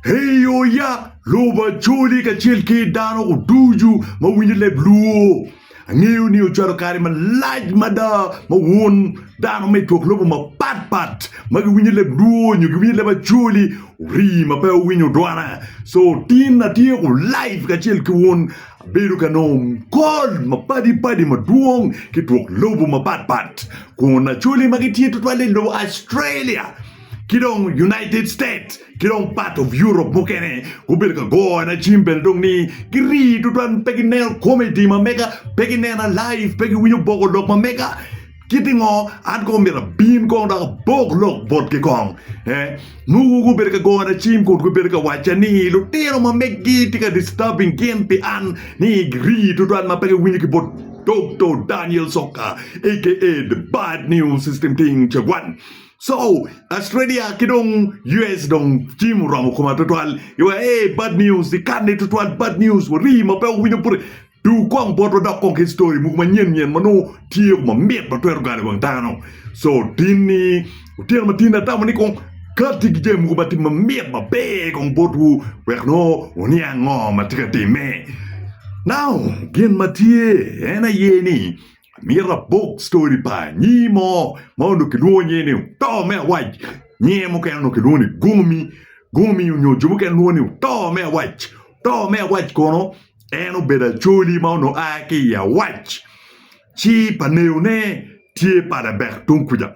Eyoya, lubo acholi kacel ki dano ducu ma winyo leb luo. Angeyo ni ocwalo kare malac mada ma wun dano ma i twok lobo mapatpat ma giwinyo leb luo nyo giwinyo leb acholi orii ma pe wuwinyo dwona. So tin atyeko live kacel ki wun abedo ka nongo kol mapadi padi madwong ki twok lobo mapatpat kun acholi ma gitye tutwale i lobo Australia. ki dong United States ki dong part of Europe mukene gubedo ka gona cim bene dong ni girii tutwal pe gineno comedy ma mega pe ginena live pe giwinyo boko lok ma mega kiti ngo an kong myero abin kong dok abok lok botgi kong eh muku gubedo ka gona cim kun gubedo ka wacca ni lutino ma meggi tye ka disturbing gin pi an ni girii tutwal ma pe giwinyo ki bot Dokto Daniel Soka aka the bad news system ting cagwan So Australia ki dong US dong cim oromo koma tutwal iwa ee bad news ikane tutwal bad news warii ma pe wawinyo bute duu kong bot wadok kong ki story mogo manyen nyen ma nongo tye ma mit ma twero galo iwang dano so tinni otyeno ma tinni atamo ni kong kati ki jami mogo ma tye ma mit ma ber kong botwu wek nongo wuniang ngo ma tye ka timme now gin ma tye en aye ni Myero abog story pa anyir mo ma onongo kilwongo nyinge ni oto me awac. Nyinge mukene onongo kilwongo ni Gomi. Gomi onyo jo mukene lwongo ni oto me awac. Oto me awac kono en obedo acoli ma onongo a ki i awac. Ci pa neyone tye Padebek tung kuca.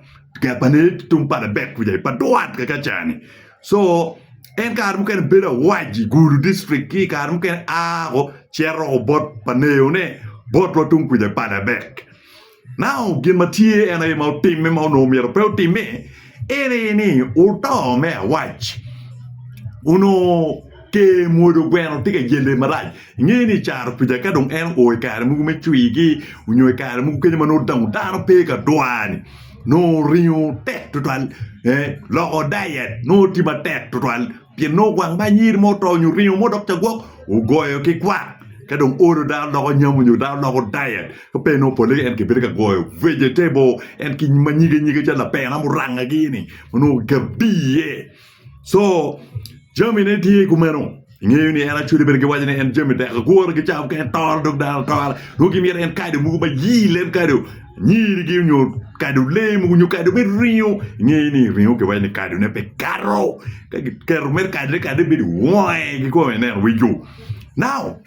Tung Padebek kuca i Padwat kakaca-ni. Co, En kare mukene bedo awaji Gulu district ki kare mukene a woko cito woko bot pa neyone botwa tung kuca i Paderberg. Now gin ma tye en aye ma otimme ma onongo myero pe otimme en aye ni oto me awac onongo ker mwodo gweno tye ka yelle marac. Inge ni i caro kuca ka dong en oo i kare mogo me cwigi onyo i kare mogo kenyo ma nongo dano pe ka dwar-ni nongo oringo tek tutwal loko dayet nongo tye matek tutwal pien nongo gwang ma anyir mo oto nyo oringo mo dok ca gwok ogoyo ki kwak ka dong oolo dano loko nyamo nyo dano loko dayet ka pe nongo pole en kibedo ka goyo vegetable en ki ma nyige nyige calo lapena muranga gini ma nongo gabbi iye. Co jamine tye kumeno ingeyo ni en acwele bene giwaco ni en jami tek agure gicawa ka en toro dog dano atora nongo gimito en kado mogo ma yil en kado nyirigi nyo kado lee mogo nyo kado me ringo ingeyo ni ringo kiwaco ni kadone pe kato ka kiketo mere kadone kade bedo wonge kikobo ineno weco now.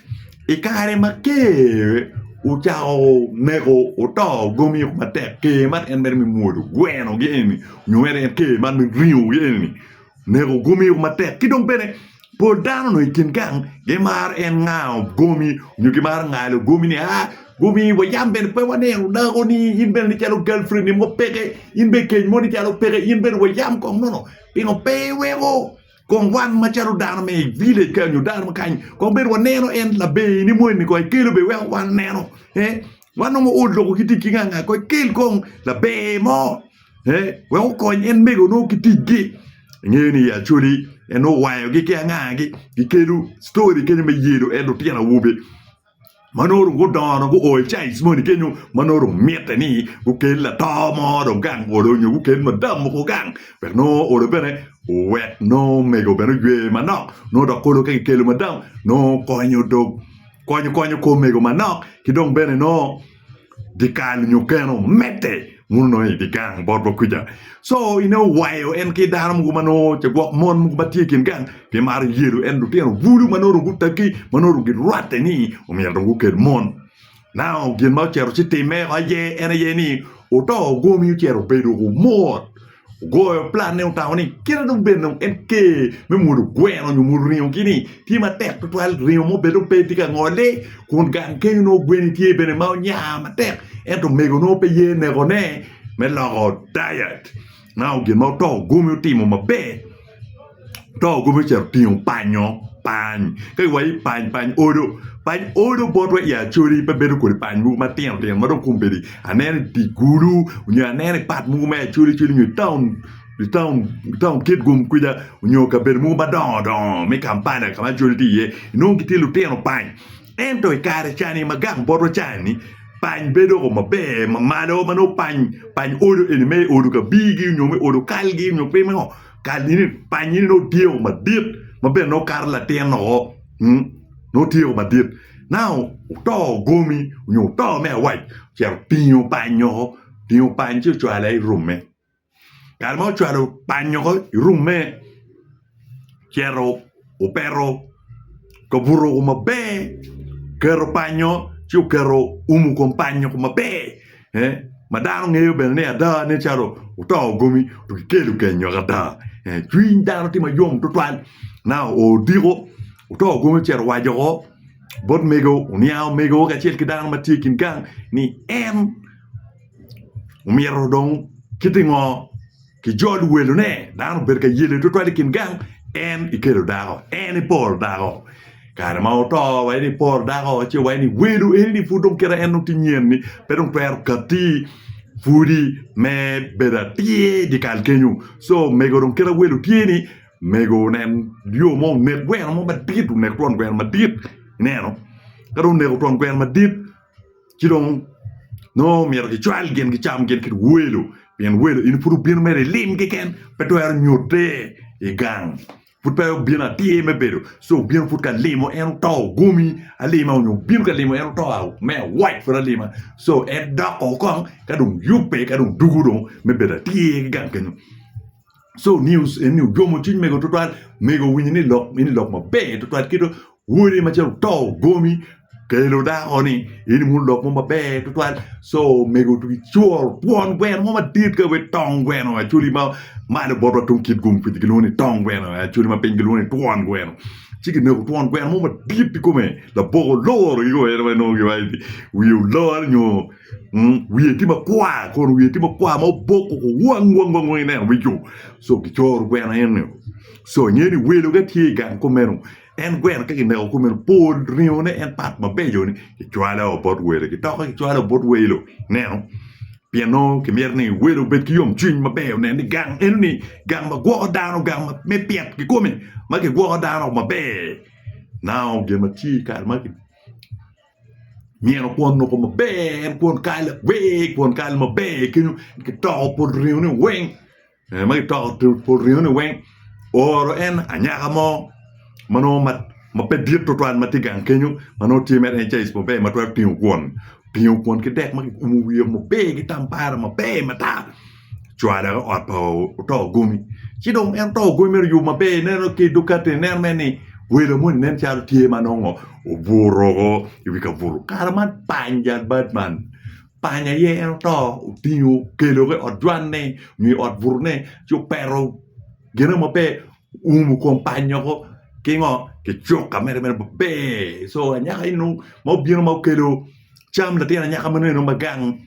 I kare ma ker ocako neko oto gomi woko matek ker man en mere me mwodo gweno gi eni nyo mere en ker man me ringo gi eni neko gomi woko matek ki dong bene pol dano onongo i kin gang gimaro en ngao gomi nyo gimaro ngalo gomi ni aa gomi wa yam bene pe waneno dako ni in bene ni calo galprenni mo peke in bene keny mo ni calo peke in bene wa yam kong nono pingo pe iweko Kong wan macalo dano me i village kany nyo dano kany kong bed waneno en laber ni moni kong ekelo be weko wan neno eh wan nongo old loko ki tic ki nga nga kong ekel kong laber mo eh wek okony en mego nongo ki tic gi ingeyo ni Acholi en owayo gi ki anga gi gikelu story kenyo me yelo en lutino awobe ma nongo dong gudongo dong guo i caic moni kenyo ma nongo dong mitte ni gukel lato mo dong gang olo nyo gukel madam mogo gang wek nongo olo bene owek nongo omego bene oywe manok nongo dok olo ka kikelo madam nongo konyo dong konyo konyo kor omego manok ki dong bene nongo Dyekal nyo keno omedde muno nongo i dye gang bot wa kuca. Co ni nongo owayo en ki dano mogo ma nongo oce gwok mon mogo ma tye i kin gang gimaro yelo en lutino bulu ma nongo rum gutegi ma nongo rum girwatte ni omyero dong gukel mon. Now gin ma ocito ci timme woko aye en aye ni oto gomi ocito obedo kumur. ogoyo planne otamo ni kite dong bed dong en ker me mwolo gweno nyo mwolo ringo kini tye matek tutwal ringo mo bed dong pe tye ka ngole kun gang kenyo nongo gweni tye bene ma onya matek ento omego nongo pe ye nekone me loko diet ma gin ma oto gumi otimo maber to gube ocito otingo panyo pany ka kiwaco ni pany pany odo pany odo botwa i acholi pe bedo kodi pany mogo matino tino ma dong kong obedi aneno i dye gulu nyo aneno i pat mogo me acholi coli nyo i taun i taun i taun kitgum kwica nyo kabedo mogo madongo dongo me kampala ka ma acholi tye iye inongo gitye lutino pany Ento i kare cani ma gang botwa cani, pany bedo doko maber mamalo ma nongo pany pany odo eni me odo kabirgi nyo me odo kalgi nyo pe me ngo kal ini pany ini nongo tyeko madit ma bene nongo kato latin oo nongo tyeko madit nau oto gomi nyo oto me awac ocito otingo pany oo otingo pany ci ocwale i rume. Kare ma ocwalo panyo ko i rume, cito opeto kabuto ko maber, keto panyo ci oketo umu kom panyo ko maber ma dano ngeyo bene ni ada nen calo oto gomi onongo kikelo kenyo ada cwiny dano tye mayom tutwal ma oo odiko oto gomi ocito owaco woko bot mego oniang omego kacel ki dano ma tye i kin gang ni en Omyero dong kiti ngo ki jol welo ne dano obed ka yele twatwal i kin gang en ikelo dako en iporo dako kare ma oto wa in iporo dako ci wa in iwelo eni ni pud dong kit ma en dong tye nyen ni pe dong twero kati pwodi me bedo atir i dyekal kenyo so mego dong kit ma welo tye ni mego onen yo mo onek gweno mo madit onek twon gweno madit ineno ka dong oneko twon gweno madit ci dong nongo myero gicwal gin gicam gin ki welo pien welo in pud obino mere ilim keken pe twero nyutte i gang pud pe obino atir me bedo ci obino pud ka limo en oto ogomi alima nyo obino ka limo en oto me awac pud alima ci en dok kong ka dong yubbe ka dong dugo dong me bedo atir ki gang kenyo. So news eni ojomo cwiny mego tutwal. Mego owinyo ni lok eni lok maber tutwal kito wode macalo oto gomi kelo dako ni eni muno lok mo maber tutwal. So mego tugi cwor pwon gweno mo madit ka we tong gweno acoli ma malo botwa tung kit gum kwidi gilwongo ni tong gweno acoli ma piny gilwongo ni twon gweno. Ci kineko twon gweno mo madit ikome laboko loro gigo eno ma nongo giwaco ni wiye olor nyo wiye tye makwar kun wiye tye makwar ma oboko wang wang wang i neno wic-cu so kicoro gweno eni so inge ni welo ka tye i gang kumeno en gweno ka kineko kumeno pol ringone en pat mabeco ni kicwalo bot welo kitoke kicwalo bot welo ineno pien nongo kimito ni welo obed ki yom cwiny maber onen ni gang enoni gang ma gwoko dano gang me pyet kikome ma kigwoko dano maber nao gin ma tye i kare ma myero kwon noko maber en kwon kal awer kwon kal maber kenyo kitoko pol ringo ni weng ma kitoko pol ringo ni weng ooro en anyaka mo ma nongo ma pe dit tutwal ma tye gang kenyo ma nongo tye mere en caic maber ma twero tingo kwon, otingo kwon ki dek ma kiumo wiye maber ki tambara maber matar. cwale ki ot pa oto gomi ci dong en oto gomi mere oyubo maber ineno ki dukatte ineno mere ni welo moni nen calo tye ma nongo obuto woko i wi kabuto kare man pany jal bad man pany aye en oto otingo okelo ki i ot jwanne nyo i ot butone ci opeto gine ma pe oumo kom pany-nyi woko ki ngo ki cuka mere mere maber so anyaka eno ma obino ma okelo cam latin anyaka meno ma gang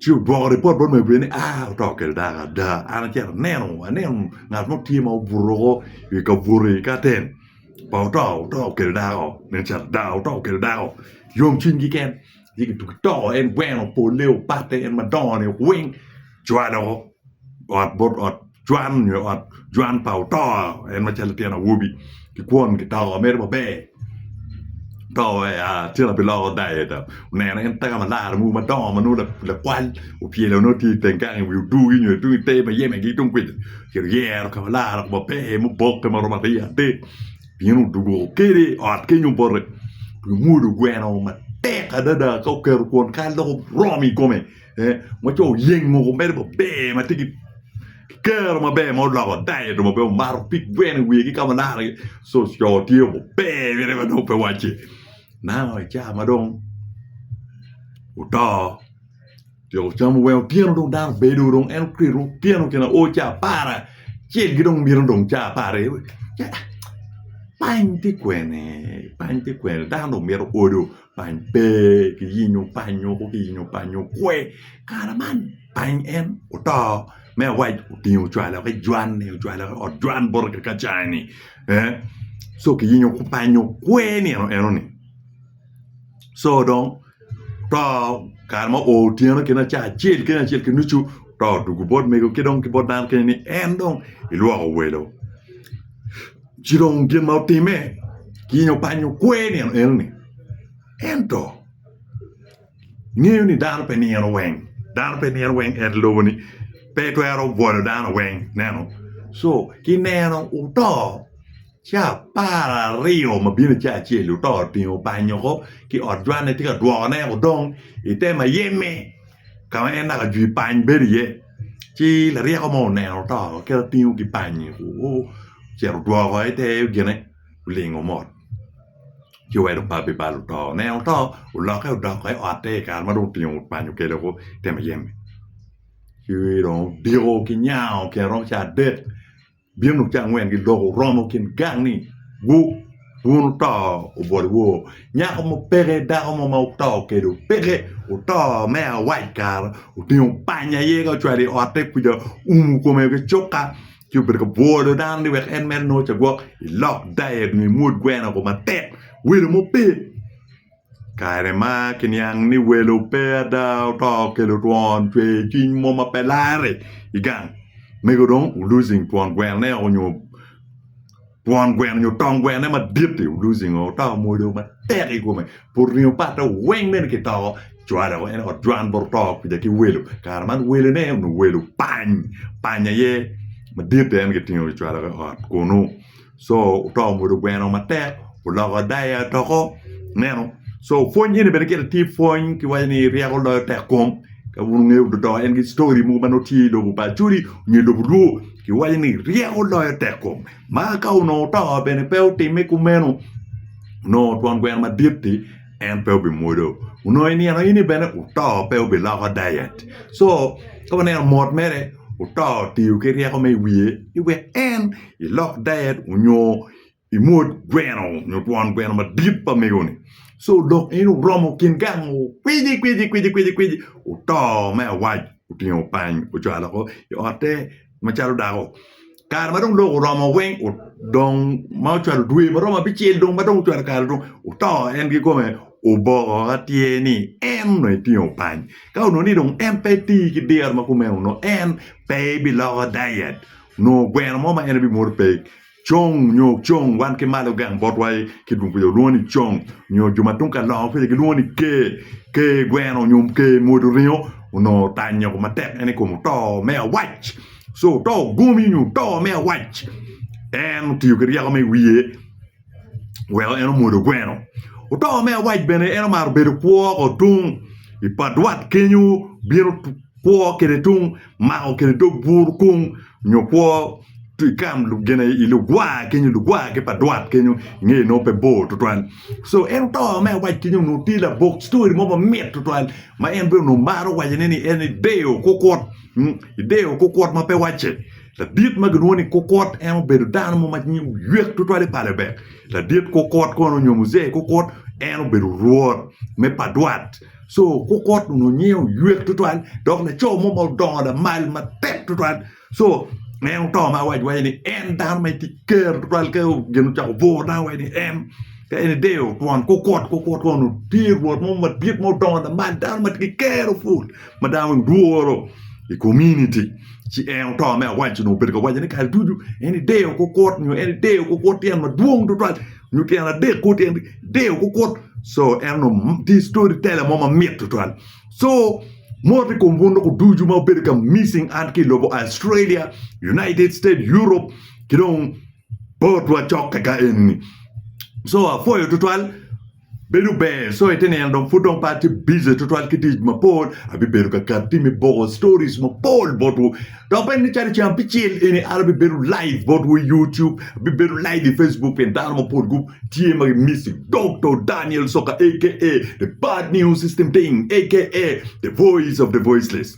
Ci ogwoko ripot bot Mary Beth ni, Aa, oto okel dako ada. An acito aneno, aneno ngat mo tye ma obuto woko i ka buto i katen pa oto, oto okel dako. Nen calo ada, oto okel dako. Yomcwiny kiken, ci kituki to en gweno polle opatte en madongo-ni weng cwalo ot bot ot. cwan nyo i ot cwan pa otor en macalo latin awobi kikwon kitoko mere maber to wa ya tye ka biloko diet oneno en taka malara mogo madongo ma nongo lakwal opyelo nongo tye i teng gang i wi odur gi nyo tung i te ma yeme gi tung kuca ci oyero ka malara kong maber muboke maromo aryo adek bino odugo kene i ot kenyo bote tumuru gweno matek adada ka oketo kwon kal dok oromo i kome ma co oyeng mogo mere maber ma tye ki kero maber ma oloko diet maber omato pig gweno i wiye ki ka ma laro iye co tye maber gire ma dong pe wacce now i cawa ma dong oto otyeko camu weng otyeno dong dano obedo dong en okelo otyeno gin aye o cawa apar acel ki dong mito dong cawa apar aye pany tye kwene pany tye kwene dano dong mito odo Pany pe ki yenyo panyo ko ki yenyo panyo kwe kare man pany en oto me awac otingo ocwalo ki jwan ni ocwalo ki ot jwan boti ki kacaa ni co ki yenyo panyo kwe nino eno ni co dong oto kare ma oo otyeno kene caa acel kene acel ki nucu oto dwogo bot mego ki dong ki bot dano kene ni en dong ilwoko welo ci dong gin ma otime kiny opanyo kwer nino eno-ni. Ento ngeyo ni dano pe nino weng, dano pe nino weng en lobo-ni pe twero bwolo dano weng, ineno. So ki neno oto ca apar aryo ma bino ca acel oto otingo opanyo oko ki ot jwanne tye ka dwokone odong ite mayeme ka ma en naka jwi pany bedo iye. ci laryeko mo oneno oto ci otingo kipanyi ocito odwoko i te gine olingo mot ci owedo opabbe bal oto oneno oto olokke odoko i ote i kare ma dong otingo kipanyi okelo i te muyeme ci dong odiko ki nyango tyen romo caa adek Bino luk ca angwen giloko oromo kin gang ni gu wun oto obwol woo nyako mo peke dako mo ma oto kelo peke oto me awac kara otingo panya i ye ka ocwalo i ote kuca oumo kome ki cuka ci obedo ka bwolo dano ni wek en mere nongo cagwok ilok diet nyo imwod gweno ko matek welo mo pe. Kare ma kiniang ni welo pe ada, oto okelo twon, cwer cwiny mo ma pe larre i gang. Mego dong u losing twon gweno ne o nyo twon gweno nyo tong gweno ne madit i u losing o oto omwodo matek i kome pud ringo pat ne weng bene ki toko cware dok en ot cwan bot oto kwija ki welo kare man wele ne onongo welo pany panya aye madit en ki tingo ki cwalo ki ot kunu. co oto ongudo gweno matek oloko daiya doko ineno co pwony eni bene gire tye pwony kiwaco ni ryeko loyo tek kom ka pud ingeyo dodo en ki ctori mogo ma nongo tye i lobo pa acholi nyo i lobo lwor kiwaco ni ryeko loyo tek kom ma ka onongo oto bene pe otime kumeno onongo twon gweno madit-ti en pe obimwodo onongo i nino eni bene oto pe obiloko daiya-ti co ka waneno mot mere oto otiyo ki ryeko ma iwiye ni wek en ilok ded onyo imwod gweno onyo twon gweno madit pa mego-ni co dok in oromo kin gang kwici kwici kwici kwici kwici oto me awac otingo pany ocwalo oko i otte macalo dako kare ma dong lok oromo weng dong ma ocwalo dwe ma romo abicel dong ma dong ocwalo kare dong oto en kikome oboko ka tye ni en onongo etingo pany ka onongo ni dong en pe tii ki diro ma kumeno onongo en pe biloko diet nongo gweno mo ma en ebimoto pe. Cong nyo cong wan ki malo gang botwa i kidwong kwija olwongo ni cong nyo jo ma tung ka longo kwija gilwongo ni ker. Ker gweno nyo ker modo ringo onongo otanyoko matek en i kom oto me awac. Co oto gomi nyo oto me awac en otiyo ki ryeko me wiye. weko en omwodo gweno. Otoka me awac bene en omaro bedo kwo woko tung i padwat kenyo bino kwo kwede tung mako kwede dog bur kung nyo kwo i kam gine i lugwar kenyo lugwar ki padwat kenyo i ngeye nongo pe bor tutwal so en otoka me awac kenyo onongo tye labok ctori mo mamit tutwal ma en bene onongo maro wacone ni en ideyo kukwot ideyo kukwot ma pe wacce Ladit ma gilwongo ni Kukut en obedo dano mo ma nyinge oywek twatwal i pale bene. Ladit Kukut kono nyo Muzee Kukut en obedo rwot me Padwat. So Kukut onongo nyinge oywek twatwal dok laco mo ma odongo lamal matek twatwal. So en oto ma awaco waco ni en dano ma tye ker twatwal ka gin ocako bur dano waco ni en ka en ideyo twon Kukut, Kukut kono onongo tye rwot mo madit ma odongo lamal dano ma tye ki ker pul. ma dano ni dworo i kominiti ci en oto me awaco nongo obedo ka wacone kare ducu en ideyo kukut nyo en ideyo kukut tyen madwong tutwal nyo tyen adek kwo tyen ideyo kukut so en onongo tye story teller mo mamit tutwal so moto i kom bun loko ducu ma obedo ka missing out ki i lobo Australia United States Europe ki dong botwa cok kaka enini so apwoyo tutwal Bedo ber, so ite neno dong pud dong pe atye bize twatwal ki tic mapol, abibedo ka ket pi me boko stories mapol botwu. Dok bene ni calo ceng abicel eni an abibedo live botwu i YouTube, abibedo live i Facebook pien dano mapol gu tye ma gi miss-i. Doktor Daniel Soka aka The Bad News System Thing aka The Voice of the Voiceless.